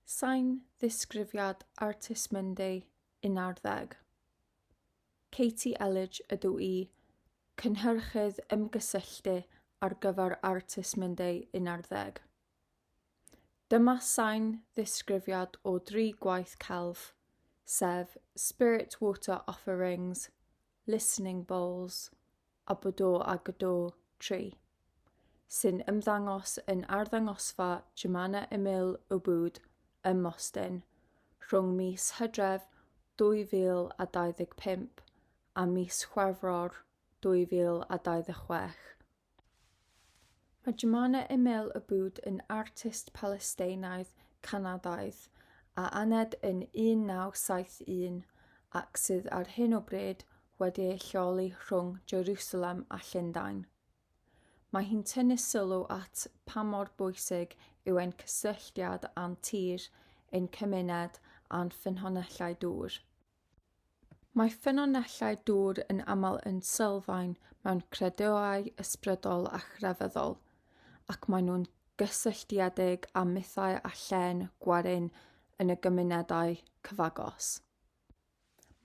Sain ddisgrifiad Artist Monday 11. Katie Elledge ydw i, Cynhyrchydd Ymgysylltu ar gyfer Artist Monday 11. Dyma sain ddisgrifiad o dri gwaith celf, sef Spirit Water Offerings, Listening Bowls a Bodo a Gdo Tri, sy'n ymddangos yn arddangosfa Jemana Emil Ubud ym Mostyn rhwng mis Hydref 2025 a mis Chwefror 2026. Mae Jumana Emel Aboud yn artist Palesteinaidd, Canadaidd, a aned yn 1971 ac sydd ar hyn o bryd wedi ei lleoli rhwng Jerwsalem a Llundain. Mae hi'n tynnu sylw at pa mor bwysig yw ein cysylltiad â'n tir, ein cymuned a'n ffynhonellau dŵr. Mae ffynonellau dŵr yn aml yn sylfaen mewn credoau ysbrydol a chrefyddol, ac maen nhw'n gysylltiedig â mythau a llên gwerin yn y gymunedau cyfagos.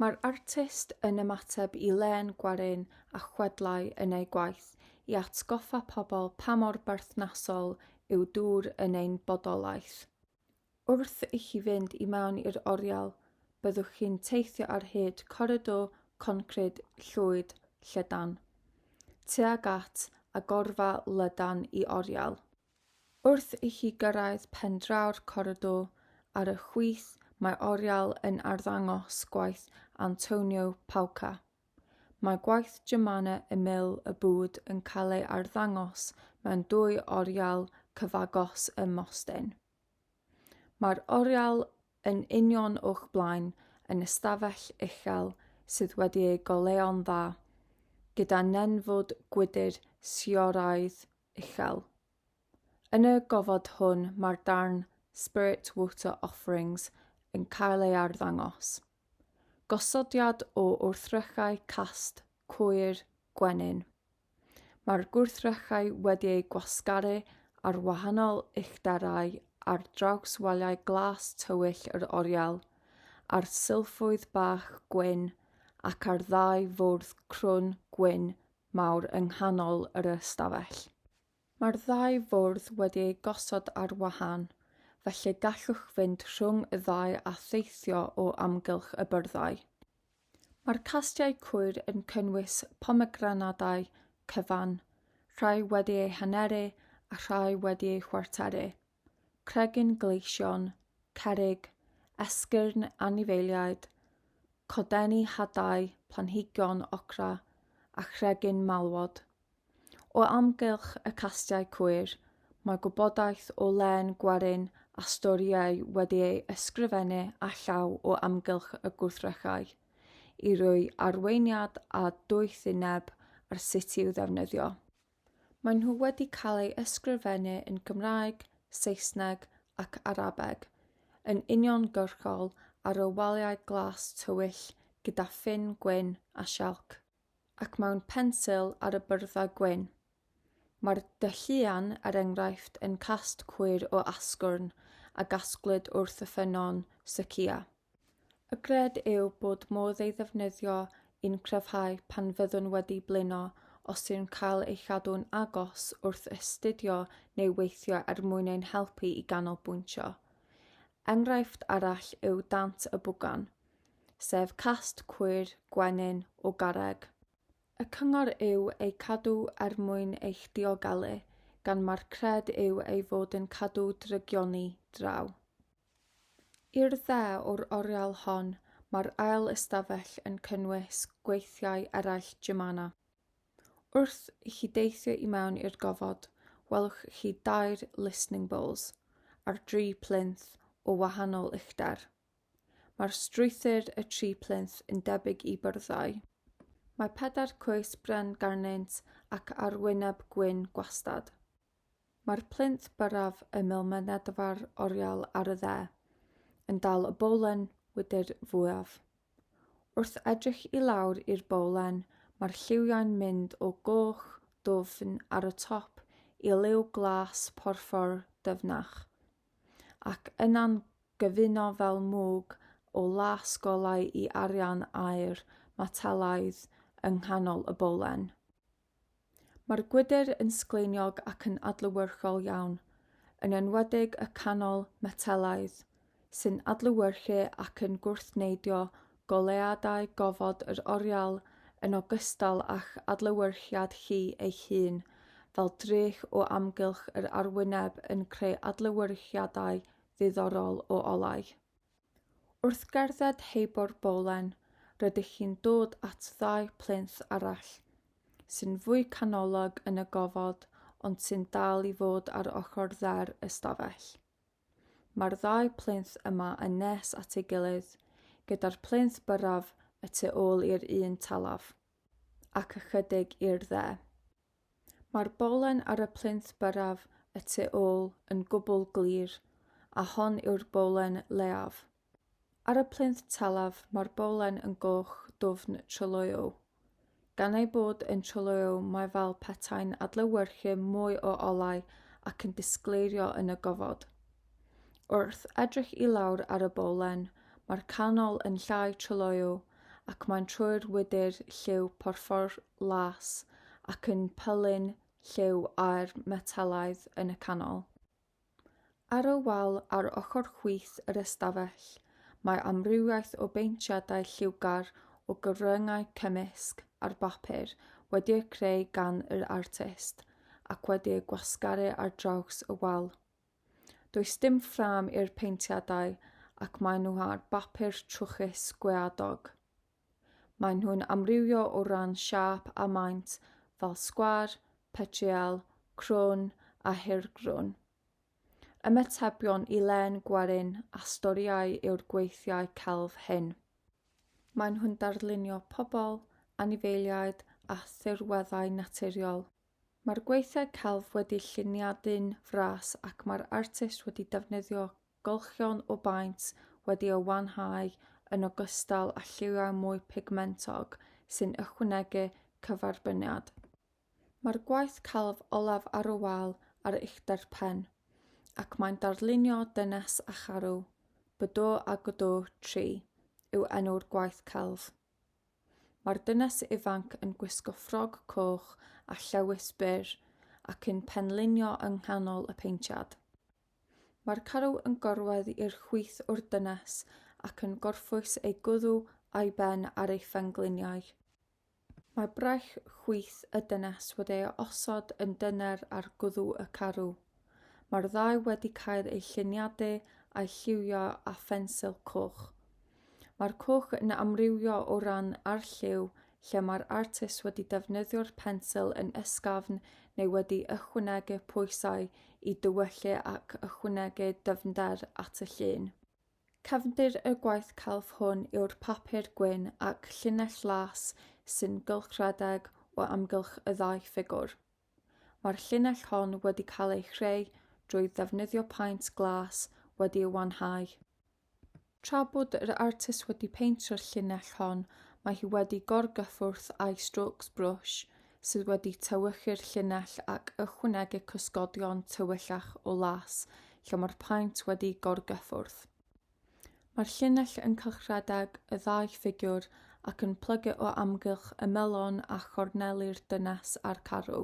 Mae'r artist yn ymateb i lên gwerin a chwedlau yn ei gwaith i atgoffa pobl pa mor berthnasol yw dŵr yn ein bodolaeth. Wrth i chi fynd i mewn i'r oriel, byddwch chi'n teithio ar hyd coridor concrid llwyd llydan, tuag at agorfa lydan i oriel. Wrth i chi gyrraedd pen draw'r coridor ar y chwith mae oriel yn arddangos gwaith Antonio Pauca. Mae gwaith Jemana Emile y Bud yn cael ei arddangos mewn dwy oriel cyfagos ym Mostyn. Mae'r oriel yn union o'ch blaen yn ystafell uchel sydd wedi ei goleuo'n dda, gyda nenfwd gwydr sioraidd uchel. Yn y gofod hwn mae'r darn Spirit Water Offerings yn cael ei arddangos. Gosodiad o wrthrychau cast coir gwenyn. Mae'r gwrthrychau wedi eu gwasgaru ar wahanol uchderau ar draws waliau glas tywyll yr oriel, ar sylffoedd bach gwyn ac ar ddau fwrdd crwn gwyn mawr yng nghanol yr ystafell. Mae'r ddau fwrdd wedi eu gosod ar wahân, felly gallwch fynd rhwng y ddau a theithio o amgylch y byrddau. Mae'r castiau cwyr yn cynnwys pomegranadau cyfan, rhai wedi eu haneru a rhai wedi eu chwarteru. Cregyn Gleision, Cerrig, Esgyrn Anifeiliaid, Codenni Hadau, Planhigion Ocra a Chregyn Malwod. O amgylch y castiau cwyr, mae gwybodaeth o len gwerin a storïau wedi ei ysgrifennu â llaw o amgylch y gwrthrychau, i roi arweiniad a doethineb ar sut i'w ddefnyddio. Maen nhw wedi cael eu ysgrifennu yn Gymraeg, Saesneg ac Arabeg yn uniongyrchol ar y waliau glas tywyll gyda ffyn gwyn a sialc, ac mewn pensil ar y byrddau gwyn. Mae'r dylluan, er enghraifft, yn cast cwyr o asgwrn a gasglwyd wrth y ffynnon Sukiya. Y gred yw bod modd ei ddefnyddio i'n cryfhau pan fyddwn wedi blino os yw'n cael ei chadw'n agos wrth astudio neu weithio er mwyn ein helpu i ganolbwyntio. Enghraifft arall yw dant y bwgan, sef cast cwyr gwenyn o garreg. Y cyngor yw eu cadw er mwyn eich diogelu, gan mae'r cred yw ei fod yn cadw drygioni draw. I'r dde o'r oriel hon mae'r ail ystafell yn cynnwys gweithiau eraill Jimana. Wrth i chi deithio i mewn i'r gofod, welwch chi dair listening bowls ar dri plinth o wahanol uchder. Mae'r strwythur y tri plinth yn debyg i byrddau. Mae pedair coes bren garnynt ac arwyneb gwyn gwastad. Mae'r plinth byrraf ymyl mynedfa'r oriel ar y dde yn dal y bowlen wydr fwyaf. Wrth edrych i lawr i'r bowlen mae'r lliwiau'n mynd o goch dwfn ar y top i liw glas porffor dyfnach, ac yna'n gyfuno fel mwg o las golau i arian aer metelaidd yng nghanol y bowlen. Mae'r gwydr yn sgleiniog ac yn adlewyrchol iawn, yn enwedig y canol metelaidd, sy'n adlewyrchu ac yn gwrthneidio goleuadau gofod yr oriel yn ogystal â'ch adlewyrchiad chi eich hun, fel drych o amgylch yr arwyneb yn creu adlewyrchiadau ddiddorol o olau. Wrth gerdded heibio'r bolen, rydych chi'n dod at ddau plinth arall, sy'n fwy canolog yn y gofod ond sy'n dal i fod ar ochr dde'r ystafell. Mae'r ddau plinth yma yn nes at ei gilydd, gyda'r plinth byrraf y tu ôl i'r un talaf. ac ychydig i'r dde. Mae'r bolen ar y plinth byrraf y tu ôl yn gwbl glir, a hon yw'r bolen leiaf. Ar y plinth talaf mae'r bolen yn goch dwfn tryloyw. Gan ei bod yn tryloyw mae fel petai'n adlewyrchu mwy o olau ac yn disgleirio yn y gofod. Wrth edrych i lawr ar y bowlen, mae'r canol yn llai tryloyw ac mae'n troi'r wydr lliw porffor las ac yn pylun lliw â'r metelaidd yn y canol. Ar y wal ar ochr chwith yr ystafell, mae amrywiaeth o beintiadau lliwgar o gyfryngau cymysg ar bapur wedi'u creu gan yr artist ac wedi'u gwasgaru ar draws y wal. Does dim ffrâm i'r peintiadau ac maen nhw ar bapur trwchus gweadog. Maen nhw'n amrywio o ran siâp a maint fel sgwar, petriel, crwn a hirgrwn. Ymatebion i len gwerin a storïau yw'r gweithiau celf hyn. Maen nhw'n darlunio pobl, anifeiliaid a thirweddau naturiol. Mae'r gweithiau celf wedi lluniadu'n fras ac mae'r artist wedi defnyddio gylchion o baent wedi eu wanhau yn ogystal â lliwiau mwy pigmentog sy'n ychwanegu cyferbyniad. Mae'r gwaith celf olaf ar y wal ar uchder pen, ac mae'n darlunio dynes a charw. Bydoo a Godoo, Tri, yw enw'r gwaith celf. Mae'r dynes ifanc yn gwisgo ffrog coch a llewys byr ac yn penlinio yng nghanol y paentiad. Mae'r carw yn gorwedd i'r chwith o'r dynes ac yn gorffwys ei gwddw a'i ben ar ei phengliniau. Mae braich chwith y dynes wedi ei osod yn dyner ar gwddw y carw. Mae'r ddau wedi cael eu lluniadu a'u lliwio â phensil coch. Mae'r cwch yn amrywio o ran arlliw, lle mae'r artist wedi defnyddio'r pensil yn ysgafn neu wedi ychwanegu pwysau i dywyllu ac ychwanegu dyfnder at y llun. Cefndir y gwaith celf hwn yw'r papur gwyn ac llinell las sy'n gylchredeg o amgylch y ddau ffigwr. Mae'r llinell hon wedi cael ei chreu drwy ddefnyddio paent glas wedi ei wanhau. Tra bod yr artist wedi peintio'r llinell hon, mae hi wedi gorgyffwrdd â'i strokes brush sydd wedi tewychu'r llinell ac ychwanegu cysgodion tywyllach o las lle mae'r paent wedi gorgyffwrdd. Mae'r llinell yn cylchredeg y ddau ffigiwr ac yn plygu o amgylch y melon a chorneli'r dynes a'r carw.